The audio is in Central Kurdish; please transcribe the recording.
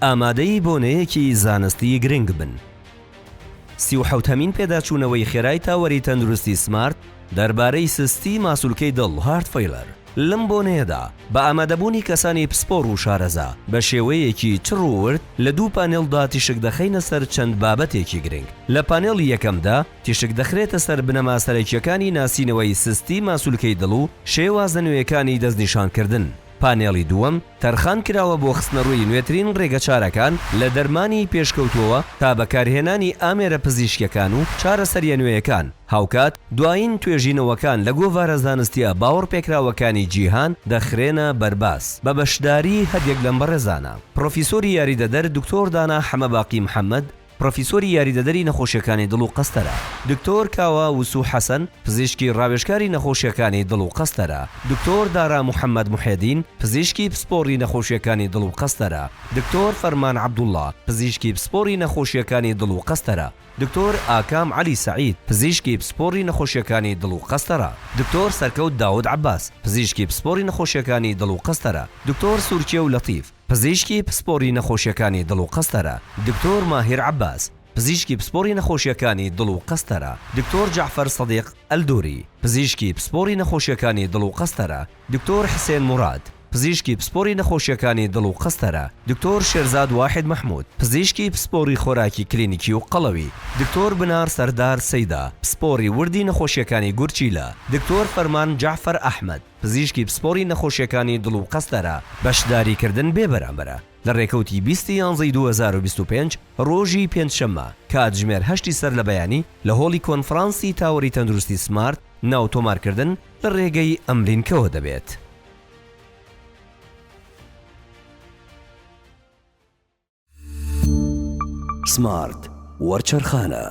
ئامادەی بۆنەیەکی زانستی گرنگ بن. سی و حەوت هەمین پێداچوونەوەی خێرای تاوەری تەندروستی سمارت دەربارەی سستی ماسولکەی دڵ Heart Failure لەم بۆنەیەدا بە ئامادەبوونی کەسانی پسپۆڕ و شارەزا بە شێوەیەکی چڕ و ورد لە دوو پانێڵدا تیشک دەخەینە سەر چەند بابەتێکی گرنگ لە پانێڵی یەکەمدا تیشک دەخرێتە سەر بنەما سەرەکیەکانی ناسینەوەی سستی ماسولکەی دڵ و شێوازە نوێیەکانی دەستنیشانکردن پانێڵی دووەم تەرخان کراوە بۆ خستنەڕووی نوێترین ڕێگەچارەکان لە دەرمانی پێشکەوتووەوە تا بەکارهێنانی ئامێرە پزیشکیەکان و چارەسەریە نوێیەکان، هاوکات دوایین توێژینەوەکان لە گۆڤارە زانستیە باوەڕپێکراوەکانی جیهان دەخرێنە بەرباس بە بەشداری هەریەک لەم بەڕێزانە، پڕۆفیسۆری یاریدەدەر دکتۆر دانا حەمەباقی محەمەد، پڕۆفیسۆری یاریدەدەری نەخۆشیەکانی دڵ و قەستەرە، دکتۆر کاوە وسو حەسەن، پزیشکی ڕاوێژکاری نەخۆشیەکانی دڵ و قەستەرە، دکتۆر دارا محەمەد محێدین، پزیشکی پسپۆڕی نەخۆشیەکانی دڵ و قەستەرە، دکتۆر فەرمان عەبدوڵا، پزیشکی پسپۆڕی نەخۆشیەکانی دڵ و قەستەرە، دکتۆر ئاکام عەلی سەعید، پزیشکی پسپۆڕی نەخۆشیەکانی دڵ و قەستەرە، دکتۆر سەرکەوت داود عەباس، پزیشکی پسپۆڕی نەخۆشیەکانی دڵ و قەستەرە، دکتۆر سورکێو لەتیف، پزیشکی پسپۆری نەخۆشیەکانی دڵ و قەستەرە، دکتۆر ماهیر عەباس، پزیشکی پسپۆری نەخۆشیەکانی دڵ و قەستەرە، دکتۆر جەعفەر سەدیق ئەلدوری، پزیشکی پسپۆری نەخۆشیەکانی دڵ و قەستەرە، دکتۆر حسێن موراد، پزیشکی پسپۆری نەخۆشیەکانی دڵ و قەستەرە، دکتۆر شێرزاد واحید محمود، پزیشکی پسپۆری خۆراکی کلینیکی و قەڵەوی، دکتۆر بنار سەردار سەیدا، پسپۆری وردی نەخۆشیەکانی گورچیلە، دکتۆر فەرمان جەعفەر ئەحمەد، پزیشکی پسپۆڕی نەخۆشیەکانی دڵ و قەستەرە. بەشداریکردن بێ بەرامبەرە لە رێکەوتی بیست ی یانزە ی دوو هەزار و بیست و پێنج رۆژی پێنج شەممە کاتژمێر هەشت ی سەر لە بەیانی لە هۆڵی کۆنفرانسی تاوەری تەندروستی سمارت ناو تۆمارکردن لە رێگەی ئەم لینکەوە دەبێت. سمارت وەرچەرخانە.